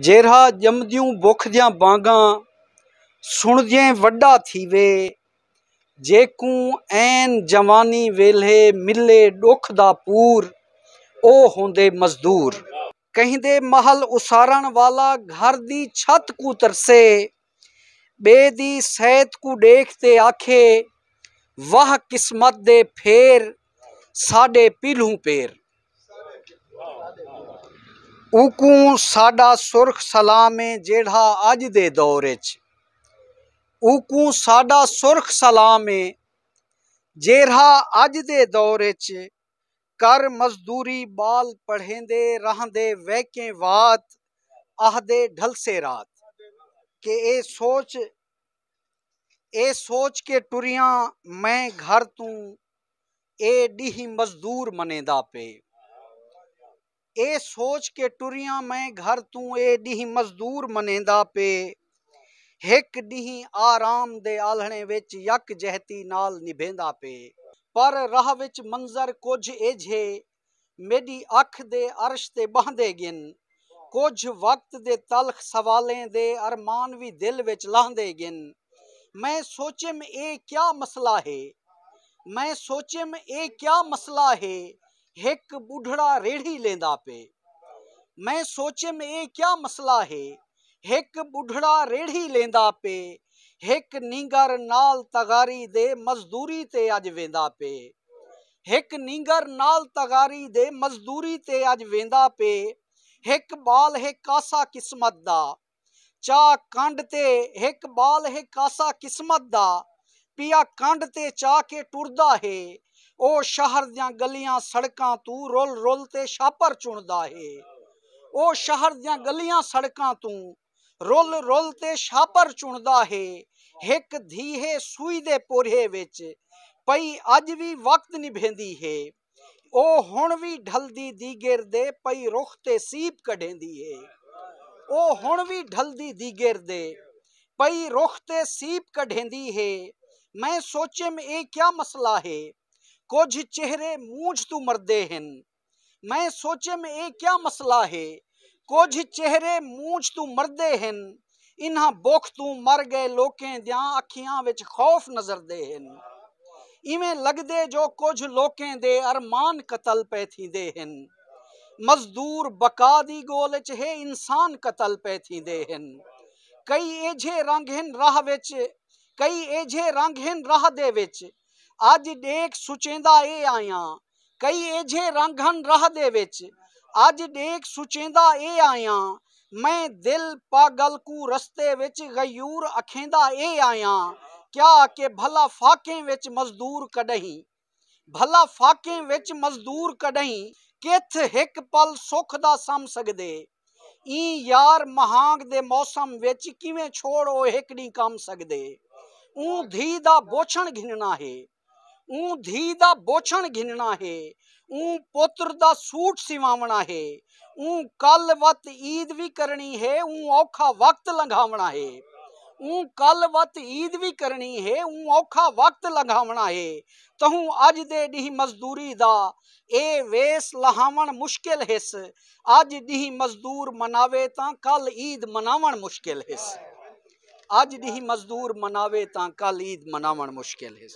جیرھا ڄمدیوں بکھ دیاں بانگاں سݨدیں وݙا تھیوے جیکوں عین جوانی ویلھے ملے ݙکھ دا پور او ہوندے مزدور کہیں دے محل اسارݨ والا گھر دی چھت کوں ترسے ٻئے دی صحت کوں ݙیکھ تے آکھے واہ قسمت دے پھیر ساݙے پیلھوں پیر اوکوں ساݙا سرخ سلام اے جیڑھا اڄ دے دور اچ اوکوں ساݙا سرخ سلام اے جیڑھا اڄ دے دور اچ کر مزدوری ٻال پڑھیندے رہندے ویکیں وات آہدے ڈھلسے رات کہ اے سوچ اے سوچ کے ٹریاں میں گھر توں اے ڈیہہ مزدور منیندا پئے اے سوچ کے ٹریاں میں گھر توں اے ڈینہہ مزدور منیندا پے ہک ڈینہہ آرام دے آلھنے وچ یک جہتی نال نبھیندا پے پر راہ وچ منظر کجھ ایجھے میڈی اکھ دے عرش تے بہندے گن کجھ وقت دے تلخ سوالیں دے ارمان وی دل وچ لہندے گن میں سوچیم اے کیا مسئلہ ہے میں سوچیم اے کیا مسئلہ ہے ہک ٻڈھڑا ریڑھی لیندا پئے۔ میں سوچیم اے کیا مسئلہ ہے۔ ہک ٻڈھڑا ریڑھی لیندا پئے۔ ہک نینگر نال تغاری دے مزدوری تے اج ویندا پئے۔ ہک نینگر نال تغاری دے مزدوری تے اج ویندا پئے۔ ہک ٻال ہے کاسا قسمت دا۔ چاء کنڈ تے ہک ٻال ہے کاسا قسمت دا پیا کنڈ تے چا کے ٹردا ہے او شہر دیاں گلیاں سڑکاں توں رل رل تے شاپر چنڑدا ہے او شہر دیاں گلیاں سڑکاں توں رل رل تے شاپر چنڑدا ہے ہک دھی ہے سوئی دے پورھے وچ پئی اج وی وقت نبھیندی ہے۔ او ہݨ وی ڈھلدی دیگر دے پئی رخ تے سیب کڈھیندی اے او ہݨ وی ڈھلدی دیگر دے پئی رخ تے سیب کڈھیندی اے میں سوچیم اے کیا مسئلہ اے کجھ چہرے مونجھ توں مردے ہن میں سوچیم اے کیا مسئلہ اے کجھ چہرے مونجھ توں مردے ہن، انہاں بکھ توں مر گئے لوکیں دیاں اکھیاں وچ خوف نظردے ہن۔ ایویں لگدے جو کجھ لوکیں دے ارمان قتل پئے تھیندے ہن۔ مزدور بقا دی گول وچ ہے انسان قتل پئے تھیندے ہن۔ کئی ایجھے رنگ ہن راہ وچ کئی ایجھے رنگ ہن راہ دے وچ اج ڈیکھ سچیندا اے آیاں کئی ایجھے رنگ ہن راہ دے وچ اج ڈیکھ سچیندا اے آیاں میں دل پاگل کوں رستے وچ غیور اکھیندا اے آیاں کیا کہ بھلا فاقیں وچ مزدور کڈہیں بھلا فاقیں وچ مزدور کڈہیں کتھ ہک پل سکھ دا سم سگدے ایں یار مہانگ دے موسم وچ کیویں چھوڑ او ہک ڈینہہ کم سگدے اوں دھی دا بوچھݨ گھنݨا ہے۔ اوں دھی دا بوچھݨ گھنݨا ہے اوں پتر دا سوٹ سیواوݨا ہے اوں کل وت عید وی کرݨی ہے اوں اوکھا وقت لنگھاوݨا ہے اوں کل وت عید وی کرݨی ہے اوں اوکھا وقت لنگھاوݨا ہے تہوں اڄ دے ݙینہہ مزدوری دا اے ویس لہاوݨ مشکل ہس اڄ ݙینہہ مزدور مناوے تاں کل عید مناوݨ مشکل ہس اڄ ݙینہہ مزدور مناوے تاں کل عید مناوݨ مشکل ہس۔